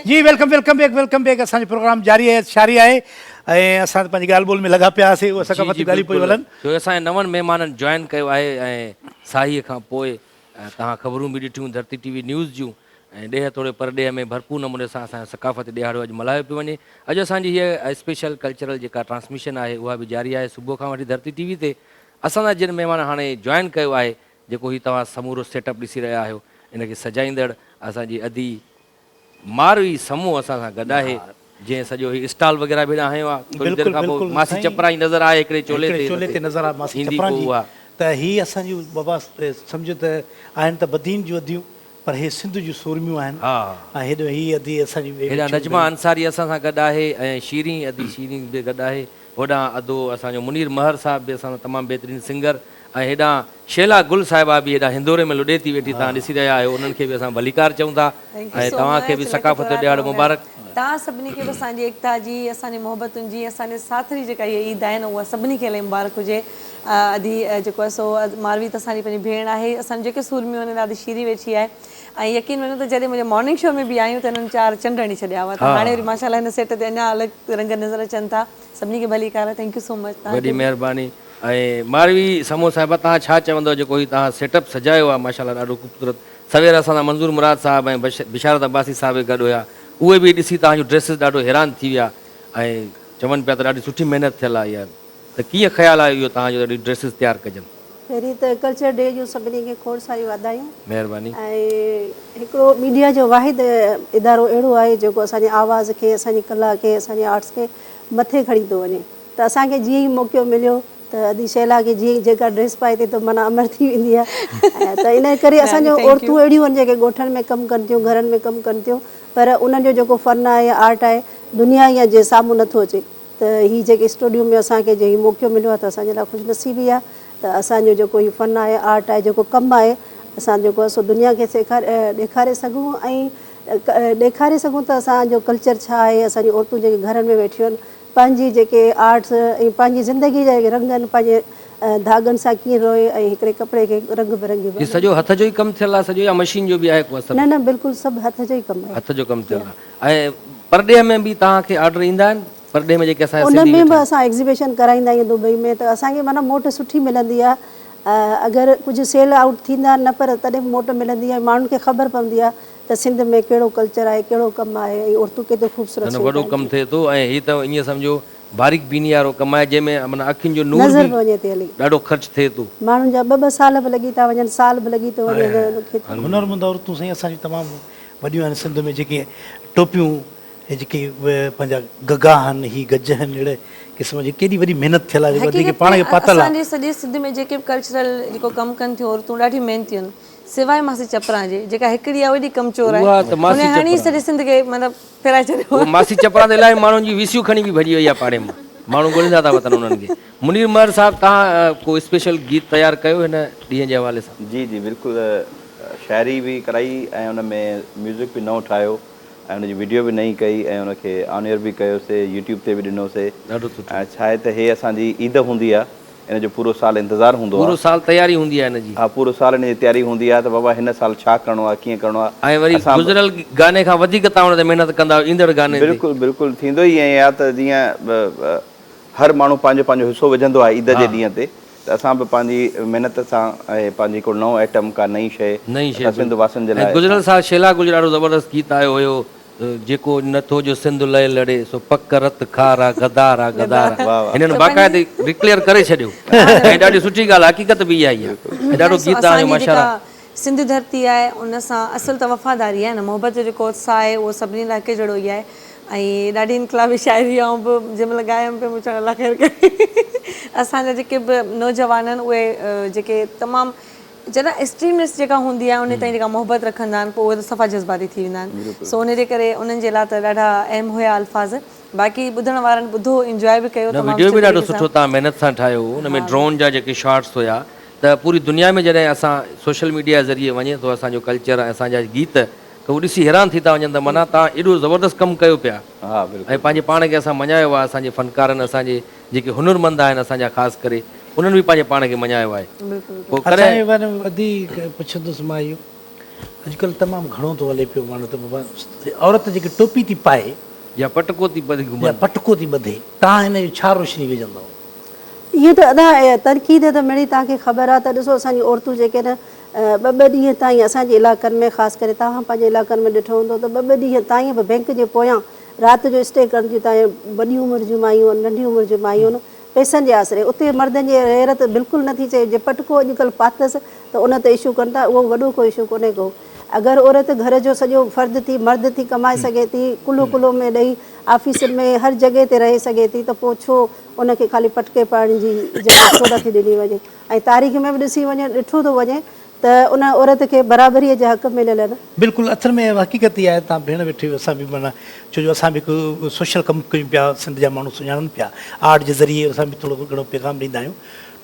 جي welcome welcome back welcome back اسان جو پروگرام جاري آهي شاري آهي ۽ اسان پنهنجي ڳالهه ٻولهه ۾ لڳا پيا آسي اهو ثقافتي ڳالهيون پيون هلن جو اسان جي نون مهمانن جوائن ڪيو آهي ۽ ساهيء کان پوء توهان خبرون به ڏٺيون ڌرتي ٽي وي نيوز جون ۽ ڏيهه توڙي پرڏيهه ۾ ڀرپور نموني سان اسان جو ثقافتي ڏيهاڙو اڄ ملهايو پيو وڃي اڄ اسان جي هيء اسپيشل ڪلچرل جيڪا ٽرانسميشن آهي اها به جاري آهي صبح کان وٺي ڌرتي ٽي وي تي اسان سان جن مهمان هاڻي جوائن ڪيو آهي جيڪو هي توهان سمورو سيٽ اپ ڏسي رهيا آهيو ان کي سجائيندڙ اسان جي ادي ماروي سمون اسان سان گڏ آهي جنهن سڄو هي اسٽال وغيره به هيڏانهن هنيو آهي ٿوري دير کانپوء ماسي چپرائي نظر آهي هڪڙي چولي تي ايندي پوء اها ته هي اسان جون بابا سمجهو ته آهن ته بدين جون اديون پر هي سنڌ جون سورميون آهن ۽ هيڏو هي ادي اسان جي هيڏانهن نجمه انصاري اسان سان گڏ آهي ۽ شيرين ادي شيرين به گڏ آهي هوڏانهن ادو اسان جو منير مهر صاحب به اسان سان تمام بهترين سنگر ۽ هيڏانهن شيلا گل صاحبه به هيڏانهن هندوري ۾ لڏي ٿي ويٺي توهان ڏسي رهيا آهيو انهن کي به اسان ڀليڪار چئون ٿا ۽ توهان کي به ثقافت جو ڏهاڙو مبارڪ. توهان سڀني کي به اسان جي ايڪتا جي اسان جي محبتن جي اسان جي ساٿ جي جيڪا هيء عيد آهي نه اها سڀني کي الائي مبارڪ هجي ادي جيڪو آهي سو ماروي ته اسان جي پنهنجي ڀيڻ آهي اسان جون جيڪي سورميون آهن ادي شيرين ويٺي آهي ۽ يقين مڃو ته جڏهن منهنجي مارننگ شو ۾ به آيون ته هنن چار چنڊ هڻي ڇڏيا هئا ته هاڻي وري ماشاءالله هن سيٽ تي اڃا الڳ رنگ نظر اچن ٿا سڀني کي ڀلي ڪار ٿينڪ يو سو مچ توهان کي وڏي مهرباني ۽ ماروي سمون صاحبه توهان ڇا چوندو جيڪو هي توهان سيٽ اپ سجايو آهي ماشاءالله ڏاڍو خوبصورت سوير اسان سان منظور مراد صاحب ۽ بشارت عباسي صاحب به گڏ هيا اهي به ڏسي توهان جون ڊريسز ڏاڍو حيران ٿي ويا ۽ چون پيا ته ڏاڍي سٺي محنت ٿيل آهي يار ته ڪيئن خيال آيو اهو توهان جو ته اهڙيون ڊريسز تيار ڪجن. پهرين ته ڪلچر ڊي جون سڀني کي کوڙ ساريون واڌايون مهرباني. ۽ هڪڙو ميڊيا جو واحد ادارو اهڙو آهي جيڪو اسان جي آواز کي اسان جي ڪلا کي اسان جي آرٽس کي مٿي کڻي ٿو وڃي ته اسان کي جيئن ئي موقعو مليو ته ادي شهلا کي جيئن ئي جيڪا ڊريس پائي ٿي ته معنيٰ امر ٿي ويندي آهي ته ان ڪري اسان جون عورتون اهڙيون آهن جيڪي ڳوٺن ۾ ڪم ڪن ٿيون گهرن ۾ ڪم ڪن ٿيون پر انهن جو جيڪو فن آهي يا آرٽ آهي دنيا جي سامهون نٿو اچي. ته هي جيڪي اسٽوڊيو ۾ اسان کي جي هي موقعو مليو آهي ته اسان جي لاء خوش نصيبي آهي ته اسان جو جيڪو هي فن آهي آرٽ آهي جيڪو ڪم آهي اسان جيڪو آهي سو دنيا کي سيکاري ڏيکاري سگهون ۽ ڏيکاري سگهون ته اسان جو ڪلچر ڇا آهي اسان جون عورتون جيڪي گهرن ۾ ويٺيون آهن پنهنجي جيڪي آرٽس ۽ پنهنجي زندگي جا جيڪي رنگ آهن پنهنجي ڌاڳن سان ڪيئن روئي ۽ هڪڙي ڪپڙي کي رنگ برنگي بڻائي. هي سڄو هٿ جو ئي ڪم ٿيل آهي سڄو يا مشين جو به آهي ڪو اثر؟ نه نه بلڪل سڀ هٿ جو ئي ڪم آهي. هٿ جو ڪم ٿيل آهي. ۽ پرڏيهه ۾ به توهان کي آرڊر ايندا آهن پرڏيهه ۾ جيڪي اسان جا سنڌي ويٺا آهن. ان ۾ به اسان ايگزيبيشن ڪرائيندا آهيون دبئي ۾ ته اسان کي معنيٰ موٽ سٺي ملندي آهي اگر ڪجهه سيل آئوٽ ٿيندا نه پر تڏهن به موٽ ملندي آهي ماڻهن کي خبر پوندي آهي ته سنڌ ۾ ڪهڙو ڪلچر آهي ڪهڙو ڪم آهي ۽ عورتون ڪيترو خوبصورت سوٽ وڏو ڪم ٿئي ٿو ۽ هي ته ائين سمجهو باريڪ بيني وارو ڪم آهي جنهن ۾ معنيٰ اکين جو نور به ڏاڍو خرچ ٿئي ٿو. ماڻهن جا ٻه ٻه سال به لڳي ٿا وڃن سال به لڳي ٿو وڃي. هنرمند عورتون سائين اسان جون تمام وڏيون آهن سنڌ ۾ جيڪي ٽوپيون هي جيڪي پنهنجا گگا آهن هي گج آهن اهڙي قسم جي ڪيڏي وڏي محنت ٿيل آهي جيڪي پاڻ کي پاتل آهي اسان جي سڄي سنڌ ۾ جيڪي به ڪلچرل جيڪو ڪم ڪن ٿيون عورتون ڏاڍي محنتيون آهن سواء ماسي چپران جي جيڪا هڪڙي آهي وڏي ڪم چور آهي هن هڻي سڄي سنڌ کي مطلب ڦيرائي ڇڏيو آهي ماسي چپران ته الاهي ماڻهن جي ويسيون کڻي به ڀڄي وئي آهي پاڙي مان ماڻهو ڳوليندا ٿا وتن انهن کي. منير مهر صاحب توهان ڪو اسپيشل گيت تيار ڪيو هن ڏينهن جي حوالي سان؟ جي جي بلڪل شاعري به ڪرائي ۽ ان ۾ ميوزڪ به نئون ٺاهيو ۽ ان جي وڊيو به نئين ڪئي ۽ ان کي آن ايئر به ڪيوسي يوٽيوب تي به ڏنوسي ڏاڍو سٺو ۽ ڇا آهي ته هي اسان جي عيد هوندي آ ان جو پورو سال انتظار هوندو آ پورو سال تياري هوندي آ هن جي ها پورو سال ان جي تياري هوندي آ ته بابا هن سال ڇا ڪرڻو آ ڪيئن ڪرڻو آ ۽ وري گذريل گاني کان وڌيڪ توهان ان تي محنت ڪندا آهيو ايندڙ گاني تي بلڪل بلڪل ٿيندو ئي ائين آ ته جيئن هر ماڻهو پنهنجو پنهنجو حصو وجهندو آهي عيد جي ڏينهن تي ته اسان به پنهنجي محنت سان ۽ پنهنجي ڪو نئون آئٽم ڪا نئين شيء اسان سنڌ واسين جي لاء گذريل سال شيلا گجراڙو زبردست گيت آيو هيو جيڪو نه ٿو جو سنڌ لئي لڙي سو پڪ رت کار آ غدار آ غدار آ هنن باقاعدي ريڪليئر ڪري ڇڏيو ۽ ڏاڍي سٺي ڳالهه حقيقت به اها ئي آ ۽ ڏاڍو گيت آڻيو ماشاءالله سنڌ ڌرتي آهي ان سان اصل ته وفاداري آهي نه محبت جو جيڪو اتساهه آهي اهو سڀني لاء هڪ جهڙو ئي آهي ۽ ڏاڍي انقلابي شاعري آئون به جنهن مهل ڳايم پئي مون چيو الله خير ڪري اسان جا جيڪي به نوجوان آهن اهي جيڪي تمام چئبو آهي ايڪسٽريمسٽ جيڪا هوندي آهي ان تائين جيڪا محبت رکندا آهن پوء اهي ته صفا جذباتي ٿي ويندا آهن سو ان جي ڪري انهن جي لاء ته ڏاڍا اهم هيا الفاظ باقي ٻڌڻ وارن ٻڌو انجواء به ڪيو تمام ويڊيو به ڏاڍو سٺو تان محنت سان ٺاهيو هو ان ۾ ڊرون جا جيڪي شاٽس هيا. ته پوري دنيا ۾ جڏهن اسان سوشل ميڊيا ذريعي وڃي ٿو اسان جو ڪلچر ۽ اسان جا گيت ته هو ڏسي حيران ٿي ٿا وڃن ته معنيٰ تان ايڏو زبردست ڪم ڪيو پيا ۽ پنهنجي پاڻ کي اسان مڃايو آهي اسان جي فنڪارن اسان جي جيڪي هنرمند آهن اسان جا خاص ڪري انهن به پنهنجي پاڻ کي مڃايو آهي پوء ڪڏهن اچا وري وڌيڪ پڇندس مان اهو اڄڪلهه تمام گهڻو ٿو هلي پيو ماڻهو ته بابا عورت جيڪي ٽوپي ٿي پائي يا پٽڪو ٿي ٻڌي گهمن يا پٽڪو ٿي ٻڌي تان هن جو ڇا روشني وجهندو ائين ته ادا تنقيد ته مڙئي توهان کي خبر آ ته ڏسو اسان جون عورتون جيڪي نه ٻه ٻه ڏينهن تائين اسان جي علائقن ۾ خاص ڪري توهان پنهنجي علائقن ۾ ڏٺو هوندو ته ٻه ٻه ڏينهن تائين به بئنڪ جي پويان رات جو اسٽي ڪنديون تائين وڏي عمر جون مايون ننڍي عمر جون مايون پئسن جي آسري اتي مردن جي غيرت بلڪل نه ٿي چئي جي پٽ ڪو اڄ ڪلهه پاتس ته ان تي اشو ڪن ٿا اهو وڏو ڪو اشو ڪونهي ڪو اگر عورت گهر جو سڄو فرد ٿي مرد ٿي ڪمائي سگهي ٿي ڪلهو ڪلهو ۾ ڏئي آفيسن ۾ هر جڳهه تي رهي سگهي ٿي ته پوء ڇو ان کي خالي پٽڪي پڙهڻ جي اجازت ڇو نٿي ڏني وڃي ۽ تاريخ ۾ به ڏسي وڃي ڏٺو ٿو وڃي ته ان عورت کي برابريء جا حق مليل آهن. بلڪل اٿر ۾ اها حقيقت ئي آهي تان ڀيڻ ويٺي اسان به معنيٰ ڇو جو اسان به هڪ سوشل ڪم ڪيون پيا سنڌ جا ماڻهو سڃاڻن پيا آرٽ جي ذريعي اسان به ٿورو گهڻو پيغام ڏيندا آهيون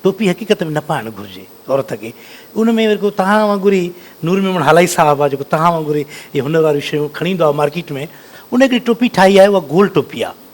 ٽوپي حقيقت ۾ نه پائڻ گهرجي عورت کي ان ۾ ورڪو توهان وانگر ئي نور ميمڻ هالائي صاحب آهي جيڪو توهان وانگر ئي هنر واريون شيون کڻي ايندو آهي مارڪيٽ ۾ ان هڪڙي ٽوپي ٺاهي آهي اها گول ٽوپي آهي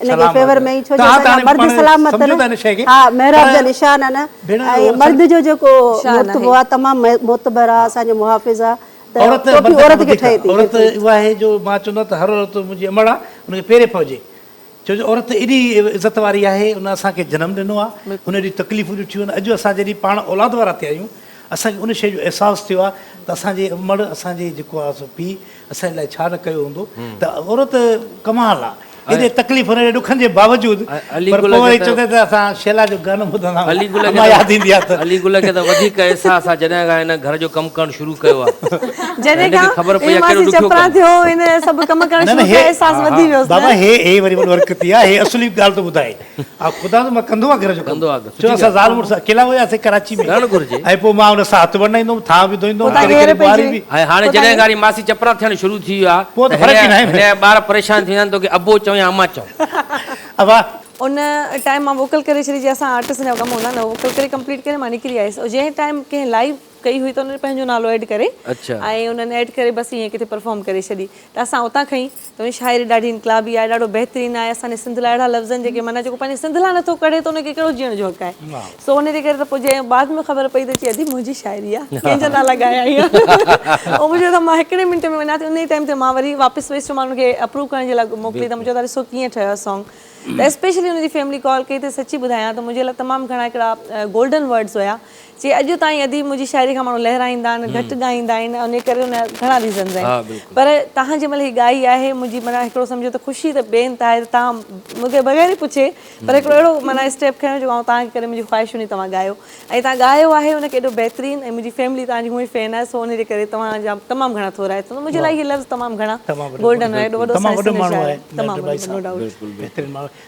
ان جي فيور ۾ ڇو جو اسان جا مرد سلامت آهن ها محراب جا نشان آهن ۽ مرد جو جيڪو مرتبو آهي تمام معتبر آهي اسان جو محافظ آهي ته ٽوپي عورت کي ٺهي ٿي عورت اها آهي جو مان چوندو آهيان ته هر عورت منهنجي امڙ آهي ان کي پيري پوجي ڇو جو عورت ايڏي عزت واري آهي ان اسان کي جنم ڏنو آهي ان ايڏي تڪليفون ڏٺيون آهن اڄ اسان جڏهن پاڻ اولاد وارا ٿيا آهيون اسان کي ان شيء جو احساس ٿيو آهي ته اسان جي امڙ اسان جي جيڪو آهي سو پيء اسان لاء ڇا نه ڪيو هوندو ته عورت ڪمال آ ايڏي تڪليفن ايڏي ڏکن جي باوجود پر پوء وري چوندي ته اسان شيلا جو گانو ٻڌندا آهيون علي گل اما ياد ايندي آ ته علي گل کي ته وڌيڪ احساس آ جڏهن کان هن گهر جو ڪم ڪرڻ شروع ڪيو آ جڏهن کان خبر پئي آ ڪهڙو ڏکيو ڪم آ ٿيو هن سڀ ڪم ڪرڻ شروع ڪيا احساس وڌي ويوس نه بابا هي هي وري ورڪتي آ هي اصلي ڳالهه ٿو ٻڌائي ها خدا ته مان ڪندو آ گهر جو ڪم چو اسان زال مڙس اڪيلا هيا سي ڪراچي ۾ رهڻ گهرجي ۽ پو مان ان سان هٿ ورنائيندوم ٿا به ڌوئيندوم ۽ ڪڏهن ڪڏهن ٻوهاري به ۽ هاڻي جڏهن کان واري ماسي چپرا ٿيڻ شروع ٿي ويو آ پو ته فرق ئي ناهي هن جا ٻار پريشان ٿيندا آهن توکي ابو چئون يا اما چئون ابا ان ٽائيم مان ووڪل ڪري ڇڏي جي اسان آرٽسٽن جا ڪم هوندا آهن ووڪل ڪري ڪمپليٽ ڪري مان نڪري آيس جنهن ٽائيم ڪنهن لائيو ڪئي هئي ته انهن پنهنجو نالو ايڊ ڪري ۽ انهن ايڊ ڪري بس ائين ڪٿي پرفارم ڪري ڇڏي ته اسان اتان کڻي ته انهن شاعري ڏاڍي انقلابي آهي ڏاڍو بهترين آهي اسان جي سنڌ لاء اهڙا لفظ آهن جيڪي معنيٰ جيڪو پنهنجي سنڌ لاء نٿو ڪڙهي ته ان کي ڪهڙو جيئڻ جو حق آهي سو ان جي ڪري ته پوء جنهن بعد ۾ خبر پئي ته چي ادي منهنجي شاعري آهي ڪنهن جا نالا ڳايا هيا او مون چيو ته مان هڪڙي منٽ ۾ وڃان ٿي ان ئي ٽائيم تي مان وري واپس ويس چيو مان ان کي اپروو ڪرڻ جي لاء موڪلي ته مون چيو ته ڏسو ڪيئن ٺهيو آهي سانگ ته اسپيشلي ان جي فيملي ڪال ڪئي ته سچي ٻڌايان ته منهنجي لاء تمام گهڻا هڪڙا گولڊن ورڊز هيا چي اڄ تائين اديب منهنجي شاعري کان ماڻهو لهرائيندا آهن گهٽ ڳائيندا آهن انهي ڪري ان جا گهڻا ريزنز آهن پر تهان جنهن مهل هي ڳائي آهي منهنجي معنيٰ هڪڙو سمجهو ته خوشي ته بي انتها آهي ته تهان مون کي بغير ئي پڇي پر هڪڙو اهڙو معنيٰ اسٽيپ کنيو جيڪو آئون تهان کي ڪري منهنجي خواهش هوندي توهان ڳايو ۽ تهان ڳايو آهي ان کي ايڏو بهترين ۽ منهنجي فيملي تهان جي هونء ئي فين آهي سو انهي جي ڪري توهان جا تمام گهڻا ٿورا آهي منهنجي لاء هي لفظ تمام گهڻا گولڊن آهي ايڏو وڏو سائنس تمام وڏو ماڻهو آهي نو ڊائوٽ بهترين ماڻهو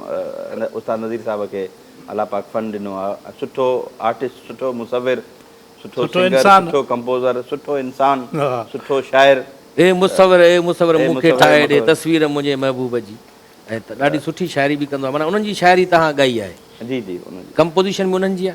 استاد نذير صاحب کي الله پاڪ فن ڏنو آ سٺو آرٽسٽ سٺو مصور سٺو سنگر سٺو ڪمپوزر سٺو انسان سٺو شاعر اي مصور اي مصور مون کي ٺاهي ڏي تصوير منهنجي محبوب جي ۽ ته ڏاڍي سٺي شاعري به ڪندو آ معنيٰ انهن جي شاعري تهان ڳائي آهي جي جي ڪمپوزيشن به انهن جي آ.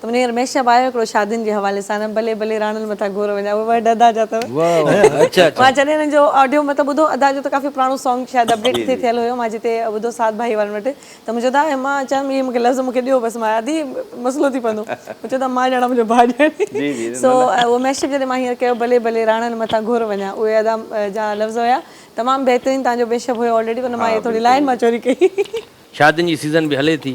ته منهنجي هينئر مهشب آيو هڪڙو شادين جي حوالي سان نه بلي بلي راڻن مٿان گهور وڃا اهي ورڊ ادا جا اٿو مان جڏهن هن جو آڊيو مطلب ٻڌو ادا جو ته ڪافي پراڻو سانگ شايد اپ ڊيٽ ٿي ٿيل هيو مان جتي ٻڌو سعد ڀائي وارن وٽ ته منهنجو ادا مان چيم اهي مونکي لفظ مونکي ڏيو بس مان ادي مسئلو ٿي پوندو مون چيو ادا مان ڄاڻان منهنجو ڀاء ڄاڻي سو اهو مهشب جڏهن مان هينئر ڪيو بلي بلي راڻن مٿان گهور وڃا اهي ادا جا لفظ هيا تمام بهترين تنهنجو مهشب هيو آلريڊي ان مان هي ٿوري لائن مان چوري ڪئي. شادين جي سيزن به هلي ٿي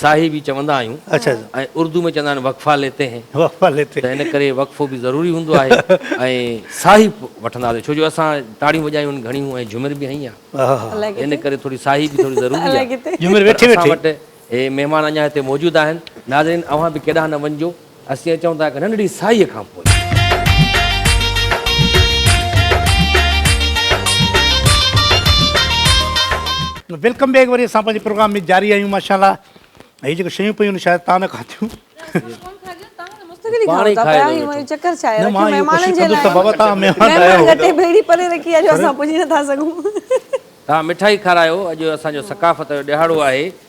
صاحب ئي چوندا آهيون ۽ اردو ۾ چوندا آهن وقفا ليتي هين ته ان ڪري وقفو به ضروري هوندو آهي ۽ صاحب وٺنداسين ڇو جو اسان تاڙيون وڄايون آهن گهڻيون ۽ جهومر به هنئين آهي ان ڪري ٿوري صاحب به ٿوري ضروري آهي اسان وٽ مهمان اڃا هتي موجود آهن ناظرين اوهان به ڪيڏانهن نه وڃجو اسين اچون ٿا هڪ ننڍڙي سائيء کان پوء. ويلڪم بيڪ وري اسان پنهنجي پروگرام ۾ جاري آهيون ماشاءالله هي جيڪو شيون پيون آهن شايد تان نه کاڌيون پاڻ ئي کائي ويو چڪر ڇا آهي مهمانن جي لاء بابا تان مهمان آيا آهيو گٽي ڀيڙي پري رکي آهي جو اسان پڄي نه ٿا سگهون تان مٺائي کارايو اڄ اسان جو ثقافت جو ڏهاڙو آهي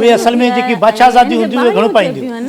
اهي اصل ۾ جيڪي بادشاهزاديون هونديون اهي گهڻو پائينديون هيون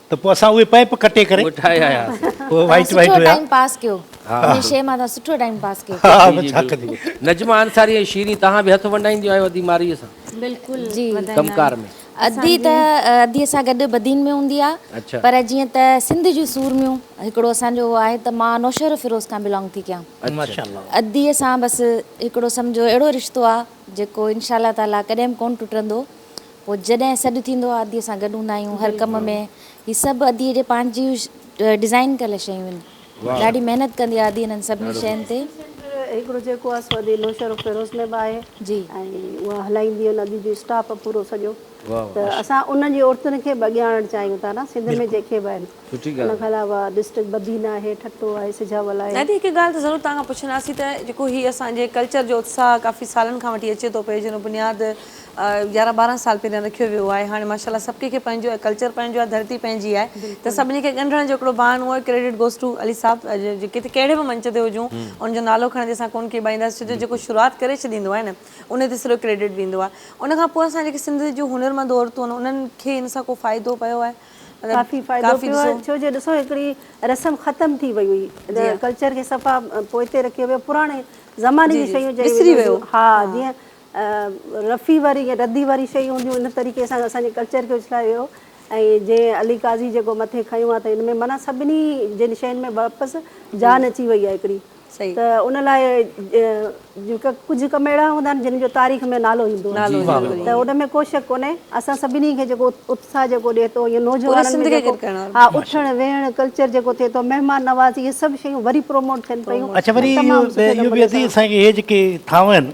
ته پوء اسان اهي پئپ ڪٽي ڪري ٺاهي آياسين. پوء وائٽ وائٽ سٺو هيا. ٽائيم پاس ڪيو انهي شيء مان اسان سٺو ٽائيم پاس ڪيو. ها ها ڇا ڪجي. نجمه انصاري ۽ شيرين توهان به هٿ ونڊائينديون آهيو ادي مارئي سان بلڪل جي وڌائيندا ڪم ڪار آهن. ۾. ادي ته ادي سان گڏ بدين ۾ هوندي آ اڇا. پر جيئن ته سنڌ جون سورميون هڪڙو اسان جو اهو آهي ته مان نوشهرو فيروز کان بلانگ ٿي ڪيان. اڇا. ماشاء الله. ادي سان بس هڪڙو سمجهو اهڙو رشتو آ جيڪو انشاء الله تعاليٰ ڪڏهن به ڪون ٽٽندو پوء جڏهن سڏ ٿيندو آهي ادي سان گڏ هوندا آهيون هر ڪم ۾ هي سڀ ادي جي پنهنجي ڊزائين ڪيل شيون آهن ڏاڍي محنت ڪندي آهي ادي هنن سڀني شين تي. هڪڙو جيڪو آهي سو ادي نوشهر آف فيروز ۾ به آهي ۽ اها هلائيندي آهن ادي جو اسٽاف آهي پورو سڄو ته اسان انهن جي عورتن کي به اڳيان آڻڻ چاهيون ٿا نه سنڌ ۾ جيڪي به آهن ان کان علاوه ڊسٽرڪٽ بدين آهي ٺٽو آهي سجاول آهي. دادي هڪ ڳالهه ته ضرور توهان کان پڇنداسين ته جيڪو هي اسان جي ڪلچر جو اتساهه ڪافي سالن کان وٺي اچي ٿو پئي جنهن جو بنياد يارهن ٻارهن سال پهريان رکيو ويو آهي هاڻي ماشاءالله سڀ ڪنهن کي پنهنجو آهي ڪلچر پنهنجو آهي ڌرتي پنهنجي آهي ته سڀني کي ڳنڍڻ جو هڪڙو بهانو آهي credit goes to Ali Sahib جي ڪٿي ڪهڙي به منچ تي هجون ان جو نالو کڻندي اسان ڪون ڪيٻائيندا سين ڇوجو جيڪو شروعات ڪري ڇڏيندو آهي نه ان تي سڄو ڪريڊٽ ويندو آهي ان کان پوء اسان جيڪي سنڌ جون هنرمند عورتون آهن انهن کي ان سان ڪو فائدو پيو آهي ڪافي فائدو پيو آهي ڇوجو ڏسو هڪڙي رسم ختم ٿي وئي هئي ڪلچر کي صفا پوئتي رکيو ويو پراڻي زماني جي شيون چيون وينديون هيون ها جيئن رفي وري يا ردي واري شيون هونديون ان طريقي سان اسان جي ڪلچر کي اڇلايو ويو ۽ جيئن علي قاضي جيڪو مٿي کنيو آ ته ان ۾ معنيٰ سڀني جن شين ۾ واپس جان اچي وئي آ هڪڙي ته ان لاء جيڪا ڪجهه ڪم اهڙا هوندا آهن جن جو تاريخ ۾ نالو ايندو آهي ته ان ۾ ڪو شڪ ڪونهي اسان سڀني کي جيڪو اتساهه جيڪو ڏي ٿو يا نوجوانن ۾ جيڪو ها اٿڻ ويهڻ ڪلچر جيڪو ٿئي ٿو مهمان نوازي اهي سڀ شيون وري پروموٽ ٿين پيون اهو تمام سٺي نموني سان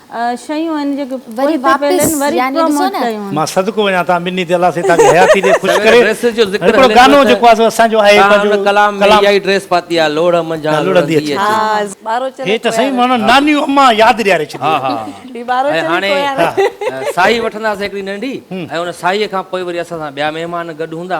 شيون آهن جيڪي وري واپس يعني ڏسو نه. مان صدقو وڃان توهان ٻنهي تي الله سائين توهان جي حياتي ڏي خوش ڪري هڪڙو گانو جيڪو آهي سو اسان جو آهي پنهنجو هن ڪلام ۾ اها ئي ڊريس پاتي آهي لوڙهه منجهان لڙندي اچي. هي ته سائين ماڻهو نانيون امان ياد ڏياري ڇڏي ۽ هاڻي ساهي وٺنداسين هڪڙي ننڍي ۽ ان ساهيء کان پوء وري اسان سان ٻيا مهمان گڏ هوندا.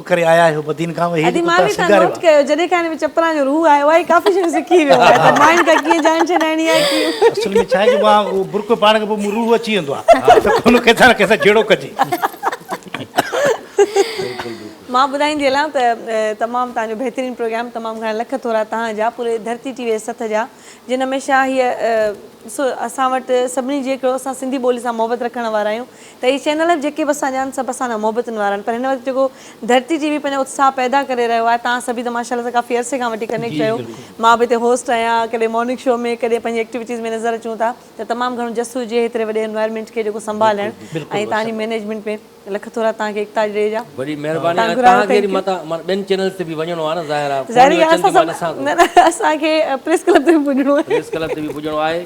ڪري آيا آهيو بدين کان اهي ادي مان به تان نوٽ ڪيو جڏهن کان هن ۾ چپران جو روح آيو آهي ڪافي شيون سکي ويو آهي ته ماين کان ڪيئن جان ڇڏائڻي آهي ڪيئن اصل ۾ ڇا آهي جو مان اهو برقعو پاڻ کان پوء مون روح اچي ويندو آهي ته ڪونه ڪنهن سان ڪنهن سان جهيڙو ڪجي مان ٻڌائيندي هلان ته تمام تان جو بهترين پروگرام تمام گهڻا لک ٿورا تان جا پوري ڌرتي ٽي وي سٿ جا جن هميشه هي اسان وٽ سڀني جي هڪڙو اسان سنڌي ٻولي سان محبت رکڻ وارا آهيون ته هي چينل اهي جيڪي به اسان جا آهن سڀ اسان سان محبتن وارا آهن پر هن وقت جيڪو ڌرتي جي وي پنهنجو اتساهه پيدا ڪري رهيو آهي تهان سڀ ئي ته ماشاءالله سان ڪافي عرصي کان وٺي ڪنيڪٽ ڪيو مان به هتي هوسٽ آهيان ڪڏهن مارننگ شو ۾ ڪڏهن پنهنجي ايڪٽيوٽيز ۾ نظر اچون ٿا ته تمام گهڻو جس هجي هيتري وڏي انوائرمينٽ کي جيڪو سنڀالڻ ۽ تهان جي مينيجمينٽ ۾ لک ٿورا تهان کي اقتاج ڏي جا وڏي مهرباني ۽ تهان کي وري متان معنيٰ ٻين چينلز تي به وڃڻو آهي نه ظاهر آهي ظاهري ڳالهه آهي اسان سڀ نه نه اسان کي پريس ڪلب تي به پڄڻو آهي پريس ڪلب تي به پڄڻو آهي.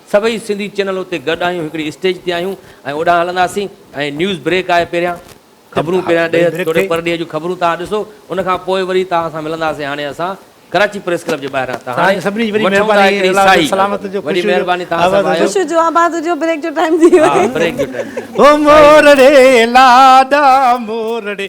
سڀئي سنڌي چينل اتي گڏ آهيون هڪڙي اسٽيج تي آهيون ۽ اوڏانهن هلنداسين ۽ نيوز بريڪ آهي پهريان خبرون پهريان ڏيهه توڙي پرڏيهه جون خبرون توهان ڏسو ان کان پوء وري توهان سان ملنداسين هاڻي اسان ڪراچي پريس ڪلب جي ٻاهران ته هاڻي وٺون ٿا هڪڙي ساهي وڏي مهرباني توهان سڀ آيو خوشيون جو آباد هجو بريڪ جو ٽائيم ٿي ويو آهي بريڪ جو ٽائيم ٿي ويو آهي. هو مورڙي لاڏا مورڙي